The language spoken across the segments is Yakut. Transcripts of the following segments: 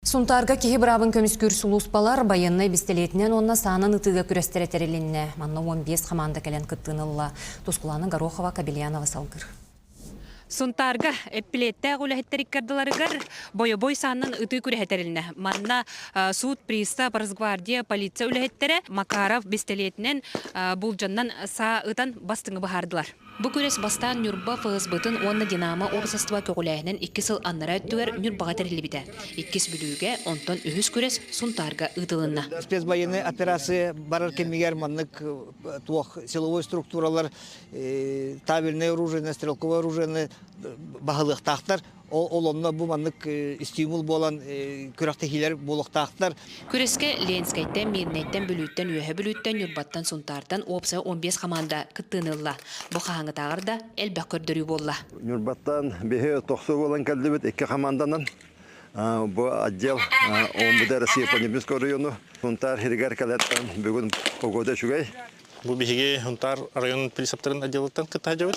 Сунтаарга киһи быраабын көмүскүүр сулууспалар байыаннай бэстилиэтинэн уонна саанан ытыыга күрэстэрэ тэрилиннэ. Манна уон биэс хамаанда кэлэн кыттыыны ылла. Тускулаана Горохова, Кобельянова салгыр. Сунтаарга эппилиэттээх үлэһиттэр икки ардыларыгар бойобуой саанан ытыы күрэһэ тэрилинэ. Манна суут пристав, Росгвардия, полиция үлэһиттэрэ Макаров бэстилиэтинэн, буулдьаннан саа ытан бастыҥы быһаардылар. Бу күрэс бастаан Ньурба ФСБ-тын уонна Динамо уопсастыба көҕүлээһинин икки сыл аннараа өттүгэр Ньурбаҕа тэриллибитэ, иккис Бүлүүгэ, онтон үһүс күрэс Сунтаарга ыытылынна. Спецбайыаннай операция барар кэмигэр маннык туох силовой структуралар табельнай оружиены, стрелковай оружиены баһылыахтаахтар, Ол онно бу маннык стимул буолан күрэхтэһиилэр буолуохтаахтар. Күрэскэ Ленскэйтэн, Мирнэйтэн, Бүлүүттэн, Үөһэ Бүлүүттэн, Ньурбаттан, Сунтаартан уопсайа он биэс хамаанда кыттыыны ылла. Бу хаһааҥҥытааҕар да элбэх көрдөрүү буолла. Ньурбаттан биһи тохсо буолан кэллибит икки хамаанданан. Бу отдел Омбуде Россия по Небесной оройуону Сунтаар иһигэр кэлэртэн бүгүн погода үчүгэй. Бу биһиги Сунтаар оройун присептарын отделыттан кытта сылдьабыт.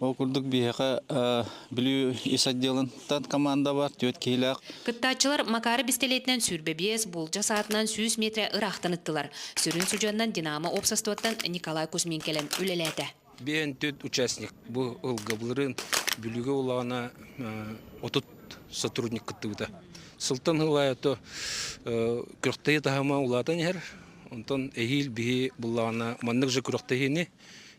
Ол курдук биһиэхэ Бүлүү ис отделынтан команда бар, түөрт киһилээх. Кыттааччылар Макары бистилиэтинэн сүүрбэбиэс, буулдьа саатынан сүүс миэтэрэ ыраахтан ыттылар. Сүрүн судьуоннан Динамо уопсастыбаттан Николай Кузьмин кэлэн үлэлээтэ. Биэһин түөрт участник бу ылгабылырын Бүлүүгэ улаана отут сотрудник кыттыбыта. Сылтан ылаайото күрөхтэйи таһыма улаатан иһэр, онтон эһиил биһи буллаҕына маннык же күрөхтэйини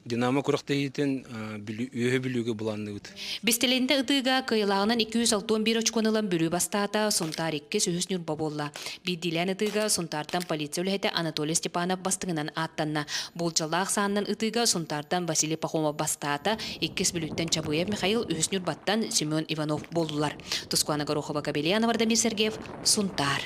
Динамо күрэхтэһиитин үөһэ Бүлүүгэ быланныбыт. Бистэлиэнтэ ытыыга кыйылааҕынан 261 очкону ылан Бүлүү бастаата, Сунтаар иккис, үһүс ньурба буолла. Биирдиилээн ытыыга Сунтаартан полиция үлэһитэ Анатолий Степанов бастыҥынан ааттанна. Буулдьалаах сааннан ытыыга Сунтаартан Василий Пахомов бастаата, иккис Бүлүүттэн Чабыев Михаил, үһүс ньурбаттан Семен Иванов буоллулар. Тускуана Горохова-Кобельянова Вардамир Сергеев, Сунтаар.